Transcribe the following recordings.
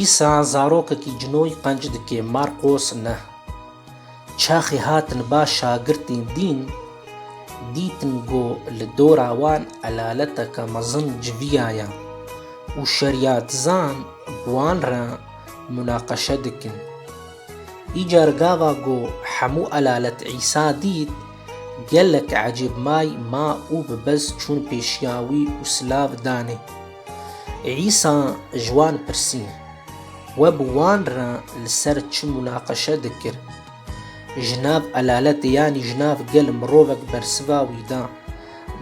Îsa zarokekî cinoy qenc dike, Marqos ne. Çaxê hatin ba şagirtên dîn, dîtin ku li dora wan elaleteke mezin civiya ye û şeriyatizan bi wan re munaqeşe dikin. Îcar gava ku hemû elalet Îsa dît, gelek ecêb may ma û bi bez çûn pêşiya wî û silav danê. Îsa ji wan pirsî, We bi wan re li ser çi munaqeşe dikir? Ji nav elaletê yanî ji nav gel mirovek bersiva wî da,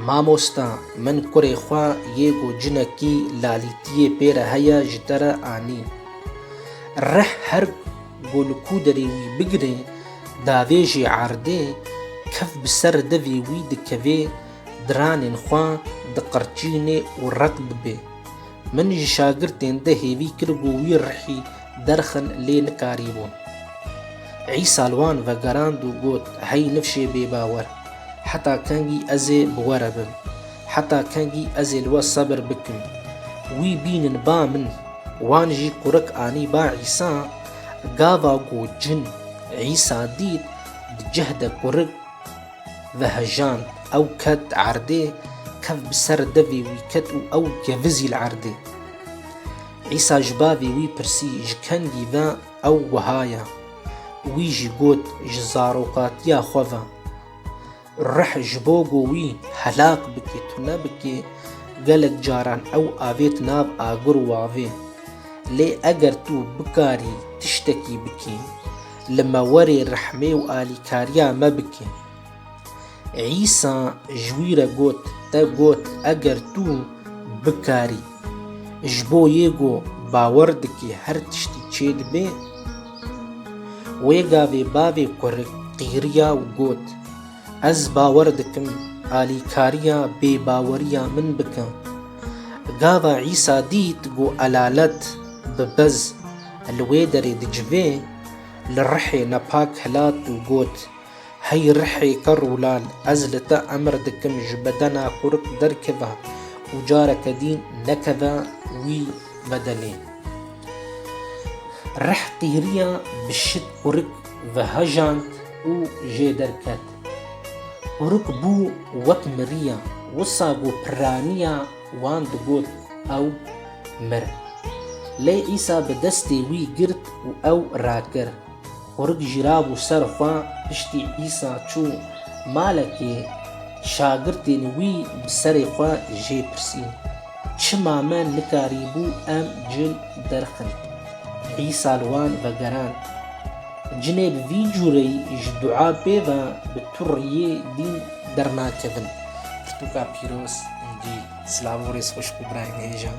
Mamosta, min kurê xwe yê ku cinekî lalîtiyê pê re heye ji te re anî. Rih her ku li ku derê wî bigirê, davêjê erdê, kef bi ser devê wî dikevê, Diranên xwe diqirçînê û req dibê. Min ji şagirtên di hêvî kir ku wî rihî derxin lê nikarîbûn. Îsa li wan vegerand û got, Hey nifşê bêbawer! Heta kengî ez ê bi we re bim? Heta kengî ez ê li we sebir bikim? Wî bînin ba min. Wan jî kurik anî ba Îsa. Gava ku cin Îsa dît, di cih de kurik, Vehejand, ew ket erdê, kev bi ser devê wî ket û ew gevizî li erdê. Îsa ji bavê wî pirsî, Ji kengî ve? Ew wiha ye. Wî jî got, Ji zarokatiya xwe ve. Rih ji bo ku wî helak bikî, tu nebikî. Gelek caran ew avêt nav agir û avê. Lê eger tu bikarî tiştekî bikî, li me were rehmê û alîkariya me bike. Îsa ji wî re got, Te got eger tu bikarî. Ji bo yê ku bawer dike her tiştî çêdibe. Wê gavê bavê kurik qîriya û got, Ez bawer dikim alîkariya bêbaweriya min bike. Gava Îsa dît ku elalet bi bez, Li wê derê di civê li rihê nepak hilat û got, Hey rihê ke rûlal, ez li te emr dikim ji bedena xurk derkeve û careke dî nekeve wî bedenê. Rih qîriya bi şit xurk ve hejand û jê derket. Xurk bû wek miriya, wisa ku piraniya, Wan digot ew mir. Lê Îsa bi destê wî girt û ew rakir. Qurik jirabû ser xwe, piştî Îsa çû malekê, şagirtên wî bi serê xwe jê pirsîn, Çima me nikarîbû em cil derxin? Îsa li wan vegerand. Cinê bi vî cûreyî ji dua pê ve bi tu riyê dîn dernakevin. Titûka pîroz êdî. Silav û rêz xweşik û birayên hêjan.